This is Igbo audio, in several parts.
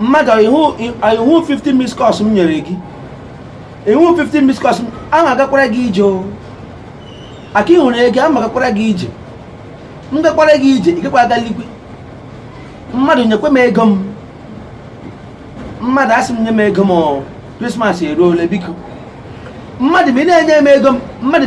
mmadụ ị hụ 50 missed calls m nyere gị ị hụ 50 missed calls m ama agakwara gị ije o aka ịhụrụ ego ama agakwara gị ije m gakwara gị ije ị gakwa aga eligwe mmadụ nyekwa m ego m mmadụ asị m nye m ego m krismas eruole biko mmadụ ma ị na-enye m ego m mmadụ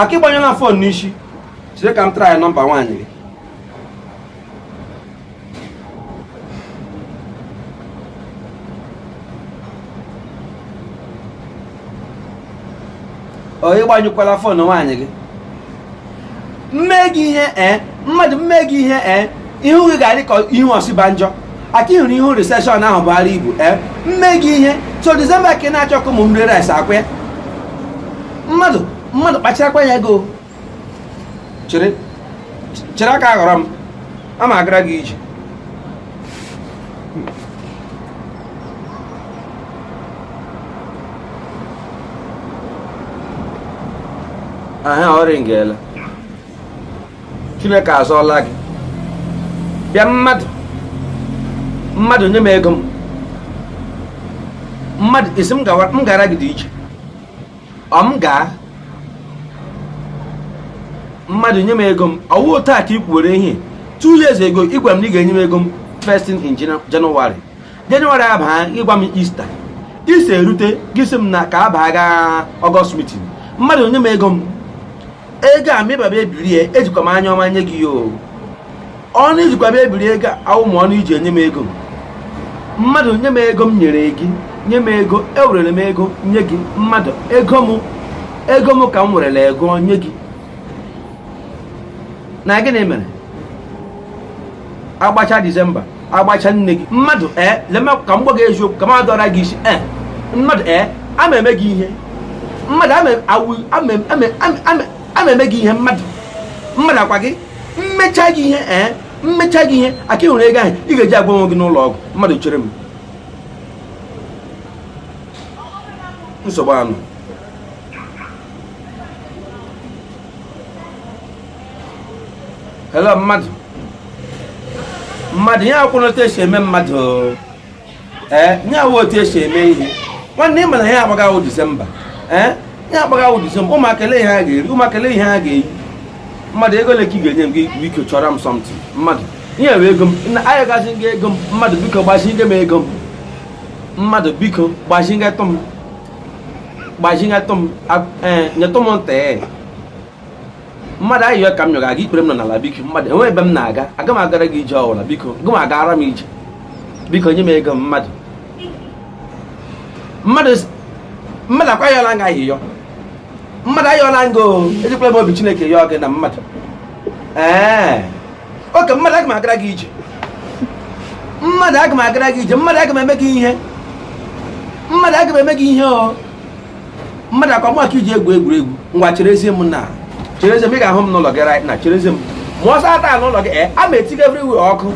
aka ịgbanyụọla fon n'isi chere ka m try nọmba nwaanyị gị ọ ịgbanyụkwala fon nwaanyị gị mme gị ihe ee mmadụ mme gị ihe ee ihu gị ga-adị ka ihu osibanjo aka ihụrụ ihu riseshọn ahụ buara ibu ee mme gị ihe so disemba ka ị na-achọ ka ụmụ m rie rice akwa ya mmadụ mmadụ kpacharakwa anya gị o chere chere aka aghọrọ m ama agara gị ije aha ọ ringela chineke azọọla gị bịa mmadụ mmadụ nye m ego m mmadụ isi m gara gị dị iche ọ m gaa mmadụ nye m ego m ọwụ taa ka ị kwuwere ihe two years ego ị gwara m na ị ga-enye m ego m first in January jenụwarị abaa ịgwa m ista ista erute gị sị m na ka abaa gaa ọgọst mitin mmadụ nye m ego m ego a mịbaba ebiri ya ejikwa m anya ọma nye gị ya o ọnụ ijikwa m ebiri ego awụ ma ọnụ iji enye m ego m mmadụ nye m ego m nyere gị nye m ego ewerere m ego nye gị mmadụ ego m ego m ka m werere ego nye gị na gịnị mere agbacha disemba agbacha nne gị mmadụ ee eh, leme ka m gwa gị eziokwu ka m adọra gị isi ee eh, mmadụ ee eh, ama eme gị ihe mmadụ ama eme gị ihe mmadụ mmadụ akwa gị mmecha gị ihe ee mmecha gị ihe aka ịhụrụ ego ahụ ị ga-eji agwọ onwe gị n'ụlọ ọgwụ mmadụ chere m nsogbu anụ hello mmadụ mmadụ ihe akwụna otu esi eme mmadụ ee ihe awụ otu esi eme ihe nwanne ị ma na ihe agbaga awụ disemba ee ihe agbaga awụ disemba ụmụaka ele ihe ha ga-eri ụmụaka ele ihe ha ga-eyi mmadụ ego ole ka ị ga-enye m gị biko chọrọ m something mmadụ ihe wee ego m ayọgazi gị ego m mmadụ biko gbazinye m ego m mmadụ biko gbazinyetụ m gbazinyetụ m nyetụ m ntị mmadụ ayịyọ ka m yọga gị ikpere m nọ n'ala biko mmadụ enweghị ebe m na-aga aga m agara gị ije ọbụla biko gị ma agara m ije biko nye m ego m mmadụ mmadụ mmadụ ọkwa ayọla m gị ayịyọ mmadụ ayọla m gị o ejikwala m obi chineke yọọ gị na mmadụ ee okay mmadụ aga m agara gị ije mmadụ aga m agara gị ije mmadụ aga m eme gị ihe mmadụ aga m eme gị ihe o mmadụ ọkwa m ka i ji egwu egwuregwu ngwa cherezie m na cherezie m ị ga-ahụ m n'ụlọ gị right now cherezie m ma ọ saa taa n'ụlọ gị ee eh, a ma etiga everywhere ọkụ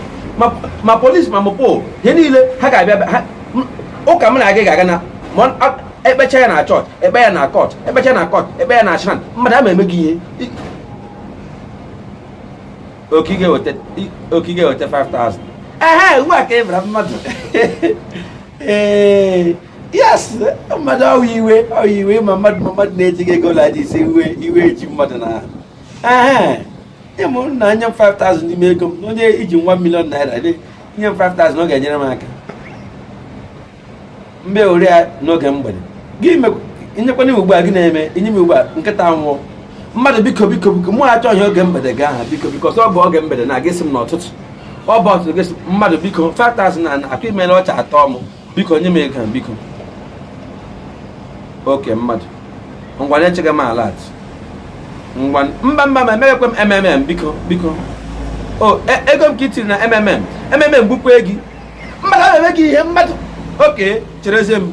ma police ma mopol ihe niile ha ga-abịa ụka m na gị ga-aga na ekpecha ya na church ekpe ya na court ekpecha na court ekpe ya na shrine mmadụ ama eme gị ihe okay ga-eweta 5000 ehe ugbu a ka ị bara mmadụ ee yes mmadụ ọ wụ iwe ọ wụ iwe ma mmadụ ma mmadụ na-eji gị ego laji ise iwe iwe eji mmadụ na ee ịmụ na nye m 5000 n'ime ego m onye i ji 1 million naira nye m 5000 ọ ga-enyere m aka mgbe ori ya n'oge mgbede gị nyekwana m ugbu a gị na-eme inye m ugbu a nkịta nwụọ mmadụ biko biko biko mụ achọghị oge mgbede gị ahụ biko biko ọsọ bụ oge mgbede na ị ga-asị m n'ụtụtụ ọ bụ ụtụtụ gị mmadụ biko 5000 na atụ ime na ọcha atọ m biko nye m ego biko okay mmadụ ngwa na-echeghị m alert ngwa mba mba ma emeghikwe m mmm biko biko o e, ego m ka i tiri na mmm mmm gbukwe gị mmadụ na-eme gị ihe mmadụ okay cherezie m